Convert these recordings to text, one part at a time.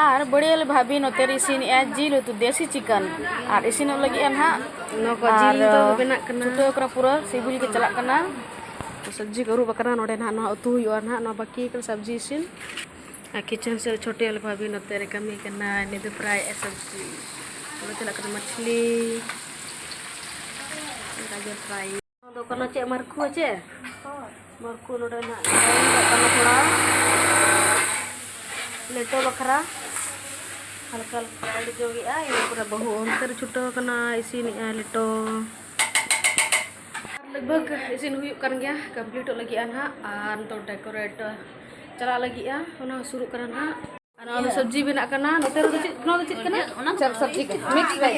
ᱟᱨ ᱵᱟᱹᱲᱤᱭᱟᱹᱞ ᱵᱷᱟᱵᱤ ᱱᱚᱛᱮ ᱨᱮ ᱤᱥᱤᱱᱮᱜᱼᱟ ᱡᱤᱞ ᱩᱛᱩ ᱫᱮᱥᱤ ᱪᱤᱠᱟᱱ ᱟᱨ ᱤᱥᱤᱱᱚᱜ ᱞᱟᱹᱜᱤᱫ ᱟᱱ ᱦᱟᱸᱜ ᱱᱚᱣᱟ ᱠᱚ ᱡᱤᱞ ᱫᱚ ᱵᱮᱱᱟᱜ ᱠᱟᱱᱟ ᱪᱷᱩᱴᱟᱹᱣ ᱠᱟᱱᱟ ᱯᱩᱨᱟᱹ ᱥᱤᱵᱤᱞ ᱜᱮ ᱪᱟᱞᱟᱜ ᱠᱟᱱᱟ ᱥᱚᱵᱽᱡᱤ ᱠᱚ ᱟᱹᱨᱩᱵ ᱟᱠᱟᱱᱟ ᱱᱚᱰᱮ ᱱᱟᱦᱟᱜ ᱱᱚᱣᱟ ᱩᱛᱩ ᱦᱩᱭᱩᱜᱼᱟ ᱱᱟᱦᱟᱜ ᱱᱚᱣᱟ ᱵᱟᱹᱠᱤ ᱠᱟᱱᱟ ᱥᱚᱵᱽᱡᱤ ᱤᱥᱤᱱ ᱟᱨ ᱠᱤᱪᱮᱱ ᱥᱮ ᱪᱷᱳᱴᱮᱞ ᱵᱷᱟᱵᱤ ᱱᱚᱛᱮ ᱨᱮ ᱠᱟᱹᱢᱤ ᱠᱟᱱᱟ ᱱᱤᱛ ᱫᱚ ᱯᱨᱟᱭ ᱥᱚᱵᱽᱡᱤ ᱱᱚᱰᱮ ᱪᱟᱞᱟᱜ ᱠᱟᱱᱟ ᱢᱟᱪᱷᱞᱤ ᱜᱟᱡᱚᱨ ᱯᱨᱟᱭ ᱫᱚ ᱠᱟᱱᱟ ᱪᱮᱫ ᱢᱟᱨᱠᱷᱩ ᱪᱮ ᱢᱟᱨᱠᱷᱩ ᱱᱚᱰᱮ ᱱᱟᱜ ᱠᱟᱱᱟ ᱛᱷᱚᱲᱟ ᱞᱮᱴᱚ ᱵᱟᱠᱷᱨᱟ ᱦᱟᱞᱠᱟ ᱦᱟᱞᱠᱟ ᱟᱹᱰᱤ ᱡᱚᱜᱮᱜᱼᱟ ᱤᱱᱟᱹ ᱯᱚᱨᱮ ᱵᱟᱹᱦᱩ ᱚᱱᱛᱮ ᱨᱮ ᱪᱷᱩᱴᱟᱹᱣ ᱠᱟᱱᱟ ᱤᱥᱤᱱᱮᱜᱼᱟ ᱞᱮᱴᱚ ᱞᱟᱜᱽᱵᱷᱟᱜᱽ ᱤᱥᱤᱱ ᱦᱩᱭᱩᱜ ᱠᱟᱱ ᱜᱮᱭᱟ ᱠᱚᱢᱯᱞᱤᱴᱚᱜ ᱞᱟᱹᱜᱤᱫᱼᱟ ᱱᱟᱦᱟᱜ ᱟᱨ ᱱᱤᱛᱚᱜ ᱰᱮᱠᱳᱨᱮᱴ ᱪᱟᱞᱟᱜ ᱞᱟᱹᱜᱤᱫᱼᱟ ᱚᱱᱟ ᱥᱩᱨᱩᱜ ᱠᱟᱱᱟ ᱱᱟᱦᱟᱜ ᱟᱨ ᱥᱚᱵᱡᱤ ᱵᱮᱱᱟᱜ ᱠᱟᱱᱟ ᱱᱚᱛᱮ ᱨᱮᱫᱚ ᱪᱮᱫ ᱱᱚᱣᱟ ᱫᱚ ᱪᱮᱫ ᱠᱟᱱᱟ ᱚᱱᱟ ᱪᱟᱯ ᱥᱚᱵᱡᱤ ᱢᱤᱠᱥ ᱵᱷᱮᱡᱽ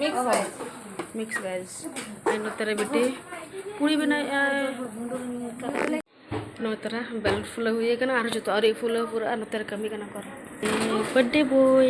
ᱢᱤᱠᱥ ᱵᱷᱮᱡᱽ ᱢᱤᱠᱥ ᱵᱷᱮᱡᱽ ᱟᱨ ᱱᱚᱛᱮ ᱨᱮ ᱵᱤᱴᱤ ᱯᱩᱲᱤ ᱵᱮᱱᱟᱣᱮᱜᱼᱟ ᱱᱚᱣᱟ ᱛᱟᱨᱟ ᱵᱮᱞ ᱯᱷᱩᱞᱟᱹᱣ ᱦᱩᱭ ᱟᱠᱟᱱᱟ ᱟᱨ ᱡᱚᱛᱚ ᱟᱹᱣᱨᱤ ᱯᱷᱩᱞᱟᱹᱣ ᱯᱩᱨᱟᱹᱜᱼᱟ ᱱᱚᱛᱮ ᱨᱮ ᱠᱟᱹᱢᱤ ᱠᱟᱱᱟ ᱠᱚ ᱵᱟᱨᱛᱷᱰᱮ ᱵᱚᱭ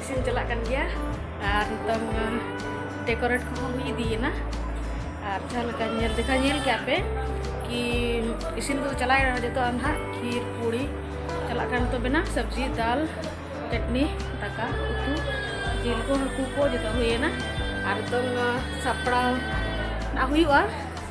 ᱤᱥᱤᱱ ᱪᱟᱞᱟᱜ ᱠᱟᱱ ᱜᱮᱭᱟ ᱟᱨ ᱱᱤᱛᱚᱝ ᱰᱮᱠᱳᱨᱮᱴ ᱠᱚᱦᱚᱸ ᱦᱩᱭ ᱤᱫᱤᱭᱮᱱᱟ ᱟᱨ ᱡᱟᱦᱟᱸ ᱞᱮᱠᱟ ᱧᱮᱞ ᱫᱮᱠᱷᱟ ᱧᱮᱞ ᱠᱮᱜᱼᱟ ᱯᱮ ᱠᱤ ᱤᱥᱤᱱ ᱠᱚᱫᱚ ᱪᱟᱞᱟᱣᱮᱱᱟ ᱡᱚᱛᱚ ᱱᱟᱦᱟᱜ ᱠᱷᱤᱨ ᱯᱩᱲᱤ ᱪᱟᱞᱟᱜ ᱠᱟᱱ ᱱᱤᱛᱚᱜ ᱵᱮᱱᱟᱣ ᱥᱚᱵᱽᱡᱤ ᱫᱟᱞ ᱪᱟᱴᱱᱤ ᱫᱟᱠᱟ ᱩᱛᱩ ᱡᱤᱞ ᱠᱚ ᱦᱟᱹᱠᱩ ᱠᱚ ᱡᱚᱛᱚ ᱦᱩᱭᱮᱱᱟ ᱟᱨ ᱱᱤᱛᱚᱝ ᱥᱟᱯᱲᱟᱣ ᱦᱩᱭᱩᱜᱼᱟ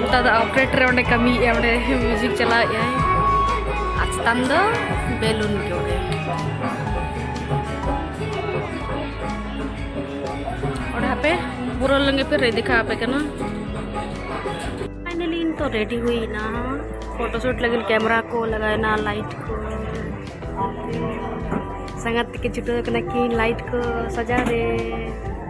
ᱱᱮᱛᱟᱨ ᱫᱚ ᱚᱯᱨᱮᱴᱚᱨ ᱚᱸᱰᱮ ᱠᱟᱹᱢᱤ ᱚᱸᱰᱮ ᱢᱤᱭᱩᱡᱤᱠ ᱪᱟᱞᱟᱣᱮᱫ ᱟᱭ ᱟᱨ ᱪᱮᱛᱟᱱ ᱫᱚ ᱵᱮᱞᱩᱱ ᱜᱮ ᱚᱸᱰᱮ ᱚᱸᱰᱮ ᱦᱟᱯᱮ ᱯᱩᱨᱟᱹ ᱞᱮᱱᱜᱮ ᱯᱮ ᱨᱮ ᱫᱮᱠᱷᱟ ᱟᱯᱮ ᱠᱟᱱᱟ ᱯᱷᱟᱭᱱᱟᱞᱤ ᱤᱧ ᱛᱚ ᱨᱮᱰᱤ ᱦᱩᱭᱱᱟ ᱯᱷᱳᱴᱳ ᱥᱩᱴ ᱞᱟᱹᱜᱤᱫ ᱠᱮᱢᱮᱨᱟ ᱠᱚ ᱞᱟᱜᱟᱣᱱᱟ ᱞᱟᱭᱤᱴ ᱠᱚ ᱥᱟᱸᱜᱟᱛ ᱛᱮᱠᱤᱱ ᱪᱷᱩᱴᱟᱹᱣ ᱠᱟᱱᱟ ᱠᱤᱱ ᱞᱟᱭᱤᱴ ᱠᱚ ᱥᱟᱡᱟᱣ ᱨᱮ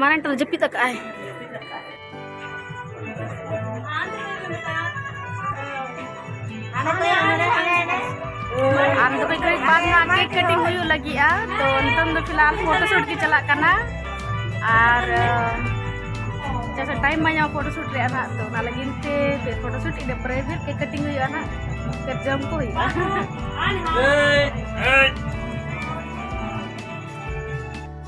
ᱢᱟᱨᱟᱝ ᱴᱟᱞ ᱡᱟᱹᱯᱤᱫ ᱟᱠᱟᱫ ᱟᱭ ᱟᱨ ᱫᱚᱵᱮ ᱜᱷᱟᱹᱲᱤᱡ ᱵᱟᱫ ᱢᱟ ᱠᱮᱠ ᱠᱟᱴᱤᱝ ᱦᱩᱭᱩᱜ ᱞᱟᱹᱜᱤᱫᱼᱟ ᱛᱚ ᱱᱤᱛᱚᱝ ᱫᱚ ᱯᱷᱤᱞᱦᱟᱞ ᱯᱷᱳᱴᱳ ᱥᱩᱴ ᱜᱮ ᱪᱟᱞᱟᱜ ᱠᱟᱱᱟ ᱟᱨ ᱡᱮᱥᱮ ᱴᱟᱭᱤᱢ ᱵᱟᱭ ᱧᱟᱢᱟ ᱯᱷᱳᱴᱳ ᱥᱩᱴ ᱨᱮᱭᱟᱜ ᱱᱟᱜ ᱛᱚ ᱚᱱᱟ ᱞᱟᱹᱜᱤᱫ ᱛᱮ ᱯᱷᱤᱨ ᱯᱷᱳᱴᱳ ᱥᱩᱴ ᱤᱱᱟᱹ ᱯᱚᱨᱮ ᱯᱷᱤᱨ ᱠᱮᱠ ᱠᱟᱴᱤᱝ ᱦᱩᱭᱩᱜᱼᱟ ᱱᱟᱜ ᱯᱷᱤᱨ ᱡᱚᱢ ᱠᱚ ᱦᱩᱭᱩᱜᱼᱟ